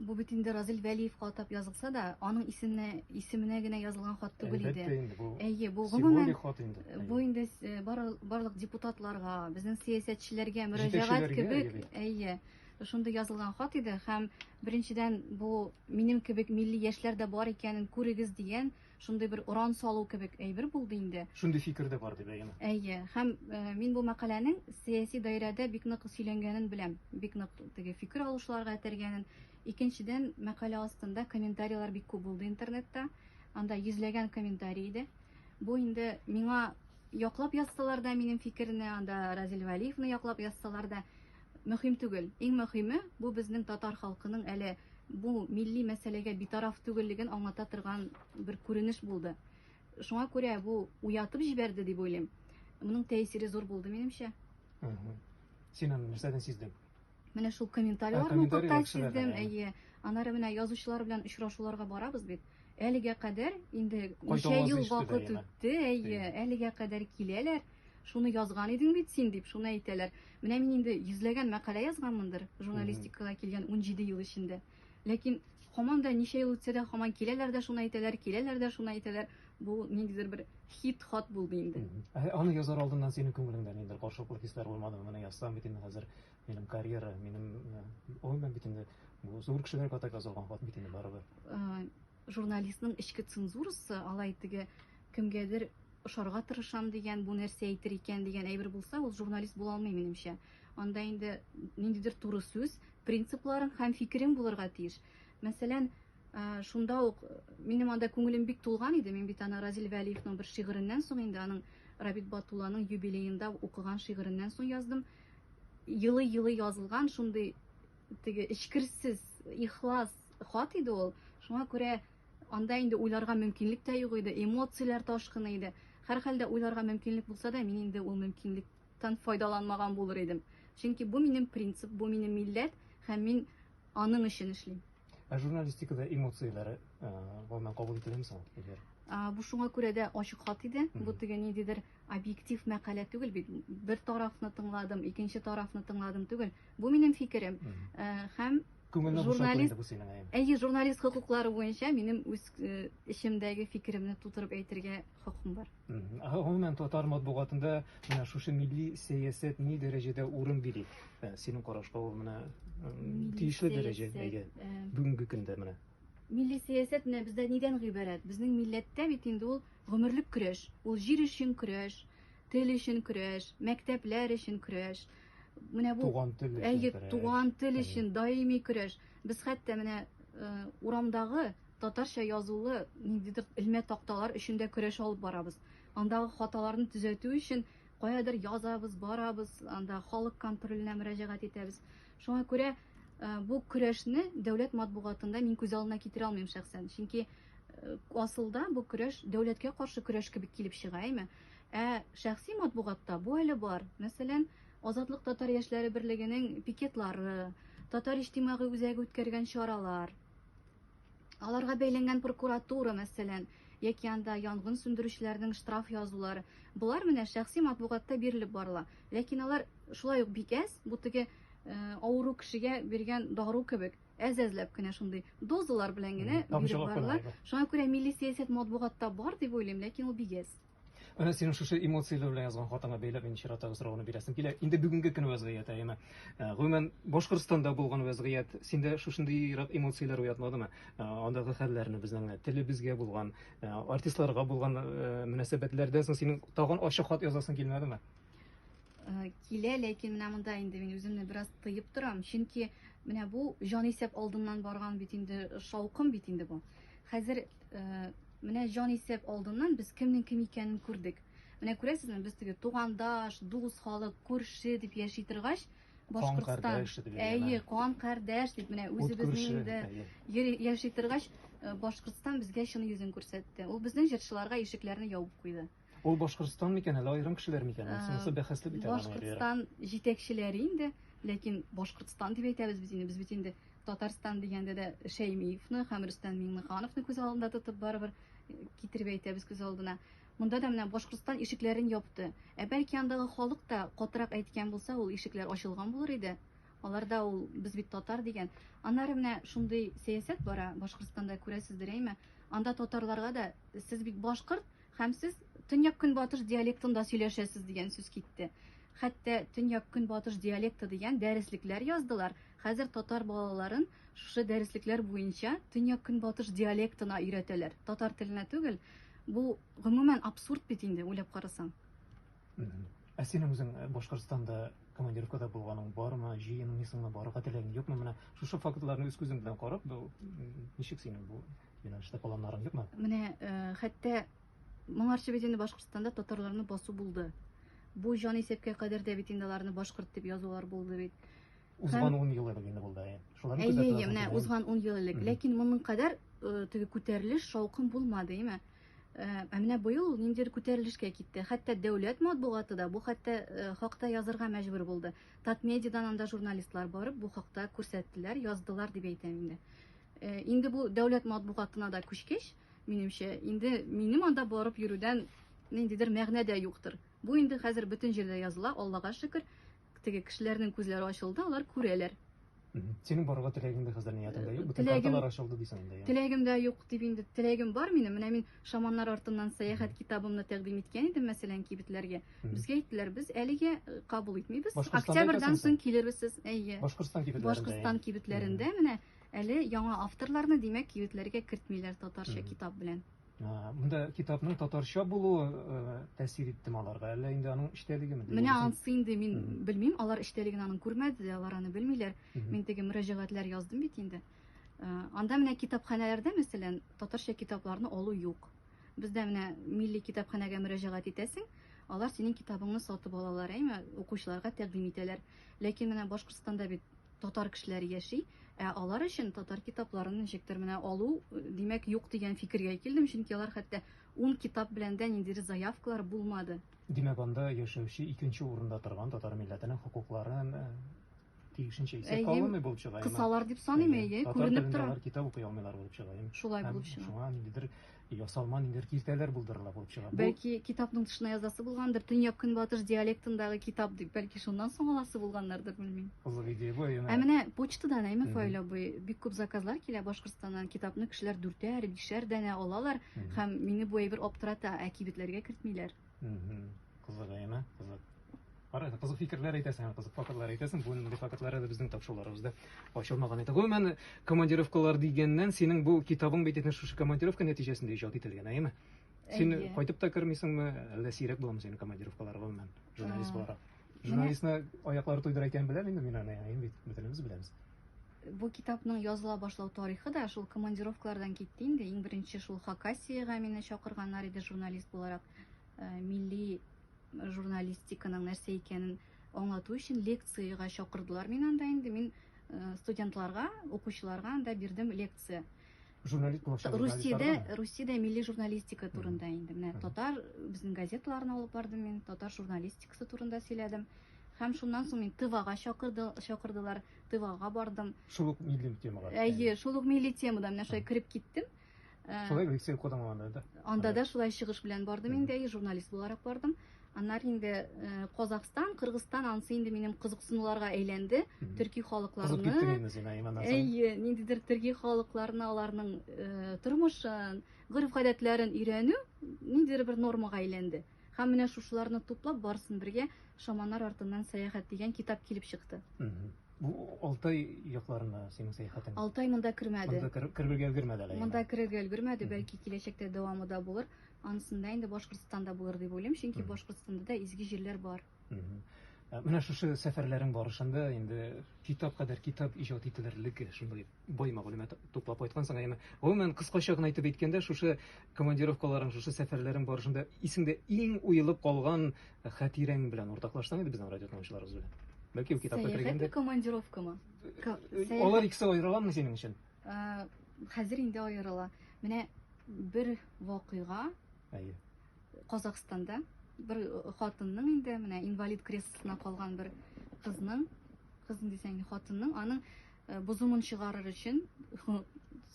Бу бит инде Разил Вәлиевка атап язылса да, аның исеменә исеменә генә язылган хат түгел иде. Әлбәттә инде бу. Әйе, бу гомумән хат инде. Бу инде э, барлык депутатларга, безнең сәясәтчеләргә мөрәҗәгать кебек, әйе, шундый язылган хат иде һәм беренчедән бу минем кебек милли яшьләр дә бар икәнен күрегез дигән Шундый бер уран салу кебек әйбер булды инде. Шундый фикер дә бар дип әйеме? Әйе. Һәм э, мин бу мәкаләнең сәяси даирәдә бик нык сөйләнгәнен беләм. Бик нык теге фикер алышларга этәргәнен. Икенчедән, мәкалә астында комментарийлар бик күп булды интернетта. Анда йөзләгән комментарий иде. Бу инде миңа яклап язсалар да минем фикерне, анда Разил Вәлиевны яклап язсалар да, Мөһим түгел. Иң мөһиме, бу безнең татар халкының әле бу милли мәсьәләгә битараф түгеллеген аңлата торган бер күренеш булды. Шуңа күрә бу уятып җибәрде дип уйлыйм. Моның тәэсире зур булды, минемчә. Мгм. Син аны нәрсәдән сиздең? Менә шул Ә, комментарийлар комментарийлар укытта чыгарды, сиздем, әйе. әйе. Аннары менә язучылар белән очрашуларга барабыз бит. Әлегә кадәр инде ничә ел вакыт үтте, әйе, әлегә кадәр киләләр. Шуны язган идең бит син дип, шуны әйтәләр. Менә мин инде йөзләгән мәкалә язганмындыр журналистикага килгән 17 ел эчендә. Ләкин һаман да ничә ел үтсә дә һаман киләләр дә шуны әйтәләр, киләләр дә шуны әйтәләр. Бу ниндидер бер хит хат булды инде. Аны язар алдыннан синең күңелеңдә ниндидер каршылыклы хисләр булмадымы? Менә язсам бит инде хәзер Минем карьера, минем гомумән бит инде бу зур кешеләр катак язылган хат бит инде барыбер. Журналистның эчке цензурасы алай теге кемгәдер ошарга тырышам дигән, бу нәрсә әйтер икән дигән әйбер булса, ул журналист була алмый минемчә. Анда инде ниндидер туры сүз, принципларың һәм фикерең булырга тиеш. Мәсәлән, шунда ук минем анда күңелем бик тулган иде. Мин бит аны Разил Вәлиевның бер шигыреннән соң инде аның Рабит Батулланың юбилеенда укыган шигыреннән соң яздым. Елый-елый язылган шундый теге эчкерсез, ихлас хат иде ул. Шуңа күрә анда инде уйларга мөмкинлек тә юк иде, эмоцияләр ташкыны иде. Һәрхәлдә уйларга мөмкинлек булса да, мин инде ул мөмкинлектән файдаланмаган булыр идем. Чөнки бу минем принцип, бу минем милләт һәм мин Аның өчен эшлим. Ә журналистикада эмоцияләр гомумән кабул ителәме соң, Эльвира? Бу шуңа күрә дә ачык хат иде. Бу теге ниндидер объектив мәкалә түгел бит. Бер тарафны тыңладым, икенче тарафны тыңладым түгел. Бу минем фикерем. Һәм күңелне журналист бу синең әйе. Әйе, журналист хокуклары буенча минем үз эчемдәге фикеремне тутырып әйтергә хокукым бар. Гомумән, татар матбугатында менә шушы милли сәясәт ни дәрәҗәдә урын били? Ә, Синең карашка ул менә м, тиешле дәрәҗә сәясәт, әйе. ә, Бүгенге көндә менә. Милли сәясәт менә бездә нидән гыйбарәт? Безнең милләттә бит инде ул гомерлек көрәш. Ул җир өчен көрәш, тел өчен көрәш, мәктәпләр өчен көрәш. Менә бу Туган тел өчен Әйе, көрәш. туган тел Әйе. өчен даими көрәш. Без хәтта менә э, урамдагы Татарча язулы ниндидер элмә такталар өчен дә көрәш алып барабыз. Андагы хаталарны төзәтү өчен каядыр язабыз, барабыз, анда халык контроленә мөрәҗәгать итәбез. Шуңа күрә бу көрәшне дәүләт матбугатында мин күз алдына китерә алмыйм шәхсән. Чөнки асылда бу көрәш дәүләткә каршы көрәш кебек килеп чыга, әйме? Ә шәхси матбугатта бу әле бар. Мәсәлән, Азатлык татар яшьләре берлегенең пикетлары, татар иҗтимагый үзәге үткәргән чаралар, Аларга бәйләнгән прокуратура, мәсәлән, яки анда янгын сүндерүчеләрнең штраф язулары. Болар менә шәхси матбугатта бирелеп барыла. Ләкин алар шулай ук бик әз, бу теге э, авыру кешегә биргән дару кебек әз-әзләп кенә шундый дозалар белән генә биреп барыла. Шуңа күрә милли сәясәт матбугатта бар дип уйлыйм, ләкин ул бик әз. Менә синең шушы эмоцияләр белән язган хатыңа бәйләп мин чиратагы сорауны бирәсем килә. Инде бүгенге көн вәзгыять әйеме. Э, гомумән, Башкортстанда булган вәзгыять синдә шушындыйрак эмоцияләр уятмадымы? Э, андагы хәлләрне безнең э, телебезгә булган, артистларга булган мөнәсәбәтләрдән соң синең тагын ачык хат язасың килмәдеме? Килә, ләкин менә монда инде мин үземне бераз тыеп торам, чөнки менә бу җан исәп алдыннан барган бит инде шаукым бит инде бу. Хәзер Менә җанисәп алдыннан без кемнең кем икәнен күрдек. Менә күрәсезме, без теге тугандаш, дус халык, күрше дип яши торгач, Башкортстан, әйе, кан кардәш дип менә үзебезнең дә яши торгач, э, Башкортстан безгә чын йөзен күрсәтте. Ул безнең җырчыларга ишекләрне ябып куйды. Ул Башкортстан микән, әллә аерым кешеләр микән? Ә, Сонысы бәхәсле бит әле. Башкортстан җитәкчеләре инде, ләкин Башкортстан дип әйтәбез без инде. Без бит инде Татарстан дигәндә дә Шәймиевны һәм Рөстәм Миңнехановны күз алдында тотып барыбер э, китереп әйтәбез күз алдына. Монда да менә Башкортстан ишекләрен япты. Ә бәлки андагы халык та катырак әйткән булса, ул ишекләр ачылган булыр иде. Аларда ул без бит татар дигән. Аннары менә шундый сәясәт бара Башкортстанда күрәсездер әйме? Анда татарларга да сез бит башкорт, Һәм сез төньяк-көнбатыш диалектында сөйләшәсез дигән сүз китте. Хәтта төньяк-көнбатыш диалекты дигән дәреслекләр яздылар. Хәзер татар балаларын шушы дәреслекләр буенча төньяк-көнбатыш диалектына өйрәтәләр. Татар теленә түгел. Бу гомумән абсурд бит инде, уйлап карасаң. Ә синең үзең э, Башкортстанда командировкада булганың бармы, җыенмыйсыңмы, барырга теләгең юкмы? Менә шушы фактларны үз күзең белән карап, бу ничек синең бу Юнәлештә планнарың юкмы? Менә э, хәтта моңарчы бит инде Башкортстанда татарларны басу булды. Бу җан исәпкә кадәр дә бит инде аларны башкорт дип язулар булды бит. Узган 10 ел элек инде булды. Шуларны күзәтә. Әйе, менә узган 10 ел элек. Ләкин моның кадәр э, теге күтәрелеш, шаукым булмады, әйме? Э, ә менә быел ул ниндидер күтәрелешкә китте. Хәтта дәүләт матбугаты да бу хәтта э, хакта язырга мәҗбүр булды. Татмедиадан анда журналистлар барып бу хакта күрсәттеләр, яздылар дип әйтәм инде. Э, инде бу дәүләт матбугатына да күчкәч, минемчә, инде минем анда барып йөрүдән ниндидер мәгънә дә юктыр. Бу инде хәзер бөтен җирдә языла, Аллага шөкер. Теге кешеләрнең күзләре ачылды, алар күрәләр. Синең барырга теләгең дә хәзер ниятеңдә юк. Бөтен карталар ачылды дисең инде. Теләгем дә юк дип инде. Теләгем бар минем. Менә мин шаманнар артыннан сәяхәт китабымны тәкъдим иткән идем, мәсәлән, кибетләргә. Безгә әйттеләр, без әлегә э, кабул итмибез. Октябрьдан соң килербез сез. Әйе. Башкортстан кибетләрендә. Башкортстан кибетләрендә менә Әле яңа авторларны, димәк, кибетләргә кертмиләр татарча китап белән. Монда китапның татарча булуы э, тәэсир иттеме аларга, әллә инде аның эчтәлегеме? Менә ансы инде мин белмим, алар эчтәлеген аның күрмәде, алар аны белмиләр. Мин теге мөрәҗәгатьләр яздым бит инде. Э, анда менә китапханәләрдә, мәсәлән, татарча китапларны алу юк. Бездә менә милли китапханәгә мөрәҗәгать итәсең, алар синең китабыңны сатып алалар, әйме, укучыларга тәкъдим итәләр. Ләкин менә Башкортстанда бит татар кешеләре яши, ә алар өчен татар китапларын ничектер менә алу, димәк, юк дигән фикергә килдем, чөнки алар хәтта ун китап белән дә ниндидер заявкалар булмады. Димәк, анда яшәүче икенче урында торган татар милләтенең хокукларын э, тиешенчә исәпкә алынмый булып чыга. Кысалар дип саныйм, әйе, күренеп тора. Татар китап укый алмыйлар булып чыга. Шулай булып чыга. Шуңа ниндидер Ясалма ниндидер киртәләр булдырырга булып чыга. Бәлки китапның тышына язасы булгандыр, төньяк-көнбатыш диалектындагы китап дип, бәлки шуннан соң аласы булганнардыр, белмим. Кызык идея бу. Ә менә почтадан әйме Фаил абый, бик күп заказлар килә Башкортстаннан, китапны кешеләр дүртәр, бишәр данә алалар һәм мине бу әйбер аптырата, ә кибетләргә кертмиләр. Кызык әйме? Кызык. Кара, кызык фикерләр әйтәсең һәм кызык фактлар әйтәсең. Бу инде фактлары да безнең тапшыруларыбызда ачылмаган иде. Гомумән, командировкалар дигәннән, синең бу китабың бит инде шушы командировка нәтиҗәсендә иҗат ителгән, әйме? Син Әйе. кайтып та кермисеңме, әллә сирәк буламы синең командировкалар гомумән, журналист буларак? Журналистны аяклары туйдыра икән беләм инде мин аны, әйе бит, бөтенебез беләбез. Бу китапның языла башлау тарихы да шул командировкалардан китте инде. Иң беренче шул Хакасиягә мине чакырганнар иде журналист буларак. Э, милли журналистиканың нәрсә икәнен аңлату өчен лекцияга чакырдылар мин анда инде. Мин э, студентларга, укучыларга анда бирдем лекция. Журналист булачак. Русиядә, Русиядә милли журналистика турында инде. Менә татар безнең газеталарны алып бардым мин, татар журналистикасы турында сөйләдем. Һәм шуннан соң мин Тывага чакырды, чакырдылар, Тывага бардым. Шул ук милли темага. Әйе, шул ук милли темада менә шулай кереп киттем. Шулай лицей укыдың анда да? Анда да шулай чыгыш белән бардым инде, журналист буларак бардым. Аннары инде э, Казахстан, Кыргызстан ансы инде минем кызыксынуларга әйләнде. Төрки халыкларны. Кызып киттең инде син Айман Азан. Әйе, ниндидер төрки халыкларны, аларның э, тормышын, гореф-гадәтләрен өйрәнү ниндидер бер нормага әйләнде. Һәм менә шушыларны туплап барсын бергә Шаманнар артыннан сәяхәт дигән китап килеп чыкты. Бу Алтай якларына синең сәяхәтең. Алтай монда кермәде. Монда керергә өлгермәде әле. Монда керергә өлгермәде, бәлки киләчәктә дәвамы да булыр. Анысын да инде Башкортстанда булыр дип уйлыйм, чөнки Башкортстанда да изге җирләр бар. Ә Менә шушы сәфәрләрең барышында инде китап кадәр китап иҗат ителерлек шундый бай мәгълүмат туплап кайткансың. Әмма гомумән кыскача гына әйтеп әйткәндә, шушы командировкаларың, шушы сәфәрләрең барышында исеңдә иң уелып калган хатирәң белән уртаклашсаң иде безнең радио тыңлаучыларыбыз белән. Бәлки ул китапка Сәяхәт кергәндә. командировкамы? Ка- Алар сәяхәт- икесе аерыламы синең өчен? Хәзер инде аерыла. Менә бер вакыйга. Әйе. Казахстанда бер э, хатынның инде менә инвалид креслосына калган бер кызның кызын дисәң хатынның аның э, бозымын чыгарыр өчен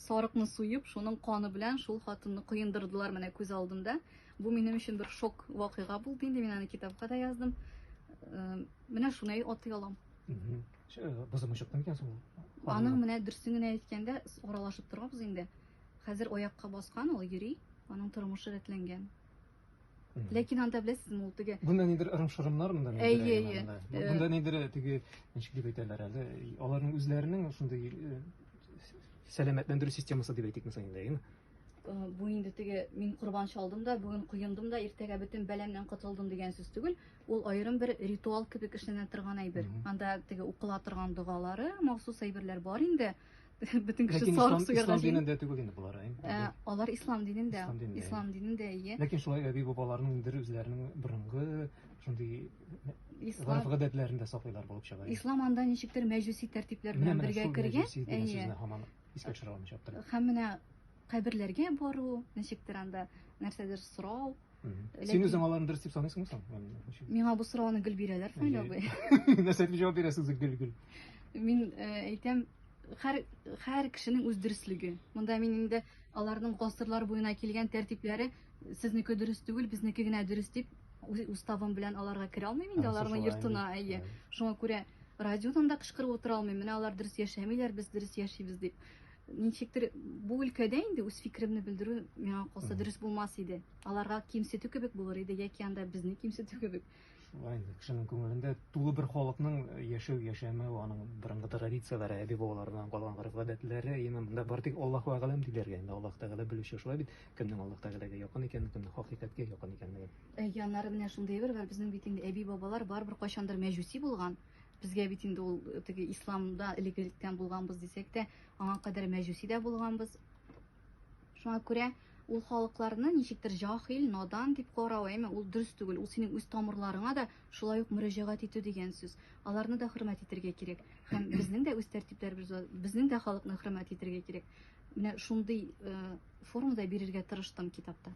сарыкны суеп шуның каны белән шул хатынны коендырдылар менә күз алдымда бу минем өчен бер шок вакыйга булды инде мин аны китапка да яздым э, менә шуны атый алам Бозымы чыкты микән соң ул? Аның менә дөресен генә әйткәндә, аралашып торабыз инде. Хәзер аякка баскан ул йөри, аның тормышы рәтләнгән. Ләкин анда беләсезме, ул теге Бунда нидер ырым-шырымнар монда нидер. Әйе, әйе. Бунда нидер теге ничек дип әйтәләр әле, аларның үзләренең шундый э, сәламәтләндерү системасы дип әйтик мисал инде, әйеме? Э, бу инде теге мин корбан чалдым да, бүген коендым да, иртәгә бөтен бәламнән котылдым дигән сүз түгел. Ул аерым бер ритуал кебек эшләнә торган әйбер. Анда теге укыла торган догалары, махсус әйберләр бар инде. Бөтен кеше сарык суярга җыен. Ислам динендә түгел инде болар. Ә, алар ислам динендә. Ислам динендә, ие. Ләкин шулай әби бабаларның инде үзләренең борынгы шундый ислам гадәтләрендә саклыйлар булып чыга. Ислам анда ничектер мәҗүси тәртипләр белән бергә кергән. Әйе. Искә төшерә алмыйча аптырап. Һәм менә Каберләргә бару, ничектер анда нәрсәдер сорау. Син үзең аларны дөрес дип саныйсыңмы соң? Миңа бу сорауны гел бирәләр, Фаил абый. Нәрсә дип җавап бирәсез гел гел? Мин әйтәм, һәр һәр кешенең үз дөреслеге. Монда мин инде аларның гасырлар буена килгән тәртипләре сезнеке дөрес түгел, безнеке генә дөрес дип уставым белән аларга керә алмыйм инде аларның йортына. Әйе. Шуңа күрә радиодан да кычкырып утыра алмыйм. Менә алар дөрес яшәмиләр, без дөрес яшибез дип. Ничектер бу өлкәдә инде үз фикеремне белдерү миңа калса дөрес булмас иде. Аларга кимсетү кебек булыр иде яки анда безне кимсетү кебек. Шулай инде кешенең күңелендә тулы бер халыкның э, яшәү яшәмәү, аның борынгы традицияләре, әби бабалардан калган гореф-гадәтләре, именно монда бар тик Аллаһу әгъләм диләргә инде Аллаһ Тәгалә белүче шулай бит, кемнең Аллаһ Тәгаләгә якын икәнен, кемнең хакыйкатькә якын икәнлеген. Э, Яннары менә шундый әйбер бар, безнең бит инде әби-бабалар барыбер кайчандыр мәҗүси булган. Безгә бит инде ул теге исламда элек электән булганбыз дисәк тә, аңа кадәр мәҗүси дә булганбыз. Шуңа күрә ул халыкларны ничектер җахил, надан дип карау, әйме, ул дөрес түгел. Ул синең үз тамырларыңа да шулай ук мөрәҗәгать итү дигән сүз. Аларны да хөрмәт итәргә кирәк. Һәм безнең дә үз тәртипләребез бар. Безнең дә халыкны хөрмәт итәргә кирәк. Менә шундый э, формада бирергә тырыштым китапта.